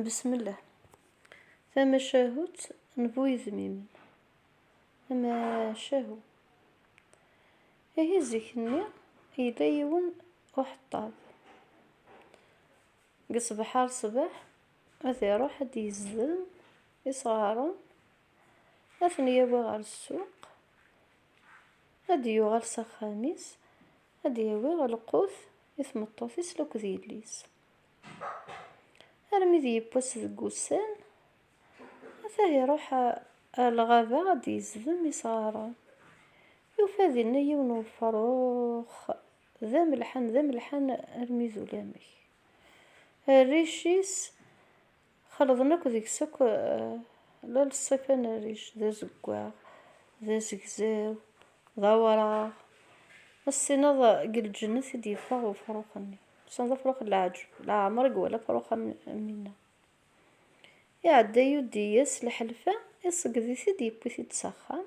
Besmelleh. Tamacahut n bu yedmimen. Tamacahu. Ihi zik-nni yella yiwen uḥeṭṭab. Deg ṣṣbeḥ ar ṣṣbeḥ ad iruḥ ad d-yezdem isɣaren, ad ten-yawi ɣer ssuq, ad d-yuɣal s axxam-is, ad d-yawi lqut i tmeṭṭut-is akked yelli-s. Armi d yiwwas deg wussan, ata iruḥ ar lɣaba ad d-yezdem isɣaren. Yufa dinna yiwen n wefrux d amelḥan, d amelḥan armi d ulamek. Rric-is. Xelḍen akk deg-s akk la lṣif anerric, d azeggaɣ, d azegzaw, d awraɣ, ad s-tiniḍ deg lǧennet i d-yeffeɣ wefrux-nni, mesan d afrux n leɛǧeb, leɛmer i iwala afrux am winna. Iɛedda yuddi-yas lḥelfa, iṣegged-it-id, yewwi-t-id s axxam.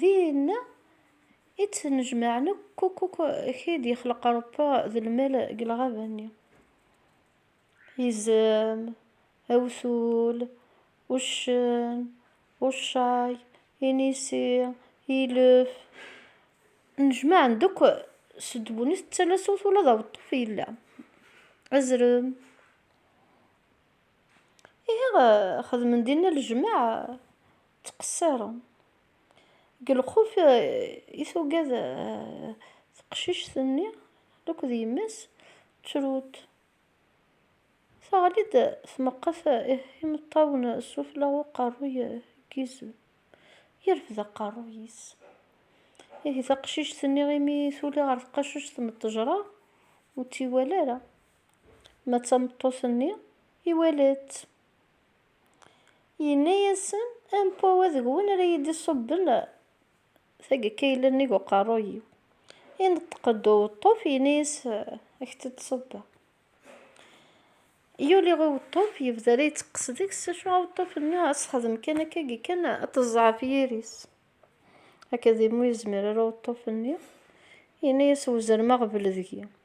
Din i ttnejmaɛen akk akk akk k i d-yexleq Rebbi d lmal deg lɣaba-nni. Izem, awtul, uccen, uccay, inisi, ilef, nnejmaɛen-d akk s ddunit d talasut ula d aweṭṭuf yella, azrem. Ihi xedmen dinna lejmaɛ ttqessaren. Deg lxuf i tugad teqcict-nni akked yemma-s, ttrunt. Teɣli-d tmeqqet imeṭṭawen sufella n uqerruy n yizem, yerfed aqerruy-is. Ihi taqcict-nni imi tuli ɣer tqacuct n ttejra, ur tt-iwala ara. Ma d tameṭṭut-nni, iwala-tt. Yenna-yasen, Ampo wa deg-wen ara yi-d-iṣubben tagkayla-nnig uqerruy-iw. Ineṭṭeq-d uweṭṭuf, yenna-yas, Ad k-tt-id-ṣubbeɣ. Yuli uweṭṭuf, yebda la iteqqes deg-s, acu aweṭṭuf-nni ad t-sexdem kan akkagi kan ad t-ẓẓɛef yiri-s. Akked-i m'ur yezmir ara uweṭṭuf-nni, yenna-yas, Wezrem aɣbel deg-i.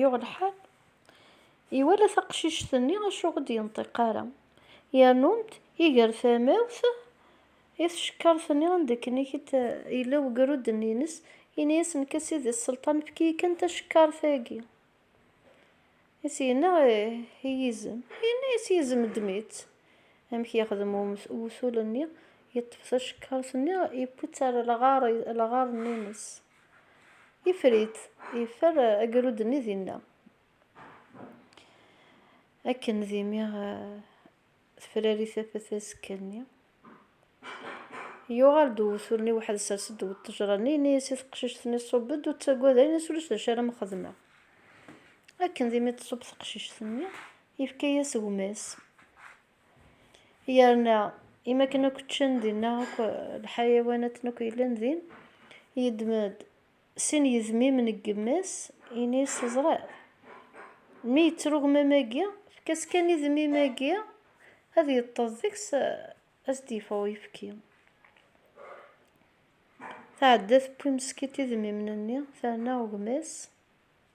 Yuɣ lḥal, iwala taqcict-nni acu ur d-yenṭiq ara, yernu-d iger tamawt i tcekkart-nni anda akken i yella ugrud-nni-ines, yenna-as nekk a sidi sselṭan efk-iyi kan tacekkart-agi. I s-yenna i yizem, yenna-as yizem ddem-itt. Amek yexdem uwtul-nni, yeṭṭef tacekkart-nni yewwi-tt ar lɣar-nni-ines. Ifrit, yeffer agrud-nni dinna. Akken d imi tefrari tafat azekka-nni, yuɣal-d uwtul-nni weḥd sers-d ddaw ṭṭejra-nni, yenna-yas i teqcict-nni ṣub-d ur ttagad ara ini-as ulac d acu ara m-xedmeɣ. Akken d imi d-tṣub teqcict-nni, yefka-yas gma-s. Yerna, imi akken akk ččan dinna akk lḥayawanaten akk yellan din, yeddem-d sin yedmimen n yemma-s, yenna-as, Teẓriḍ, mi yetter ugmam-agi, efk-as kan idmim-agi ad yeṭṭeḍ deg-s, ad s-d-yeffeɣ uyefki. Tɛedda tewwi meskint idmimen-nni, terna gma-s.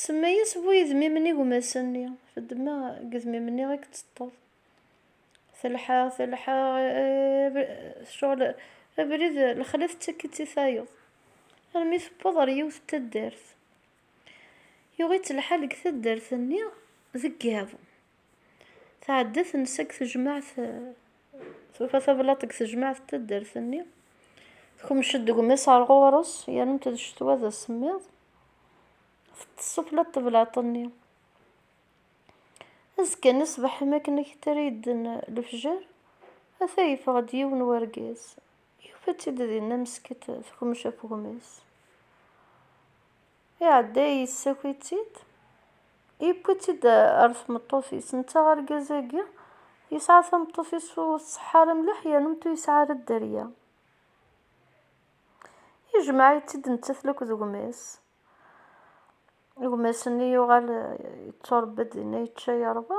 Tsemma-yas bu yedmimen igmasen-nni. Tedma deg yedmimen-nni i yeṭṭeṭṭeḍ. Telḥa, telḥa, tecɣel, abrid, lexla tettak-itt i tayeḍ. Armi tewweḍ ɣer yiwet n taddart. Yuɣ-itt lḥal deg taddart-nni deg yiḍ. tɛedda tensa deg tejmaɛt tufa tablaḍt deg tejmaɛt n taddart-nni tkemc-d deg umis ar ɣur-s yerna-t d ccetwa d asemmiḍ teṭṭes sufla n teblaḍt-nni azekka-nni ṣṣbeḥ imi akken ad k-tara yedden lefjer ata yeffeɣ-d yiwen wergaz yufa-tt-id dinna mesket tekmec ɣef ugmis Iɛedda yessaki-tt-id, yewwi-tt-id ɣer tmeṭṭut-is. Netta argaz-agi yesɛa tameṭṭut-is ur tṣeḥḥa ara mliḥ yernu ur yesɛi ara dderya. Ijmeɛ-itt-id nettat la akked gma-s. Gma-s-nni yuɣal yetturebba-d dinna yečča yerwa.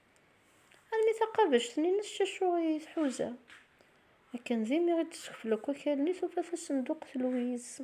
Armi taqabact-nni-nnes cacuɣ i tḥuza. Akken d imi i d-teskeflek akal-nni, tufa tasenduqt n Louise.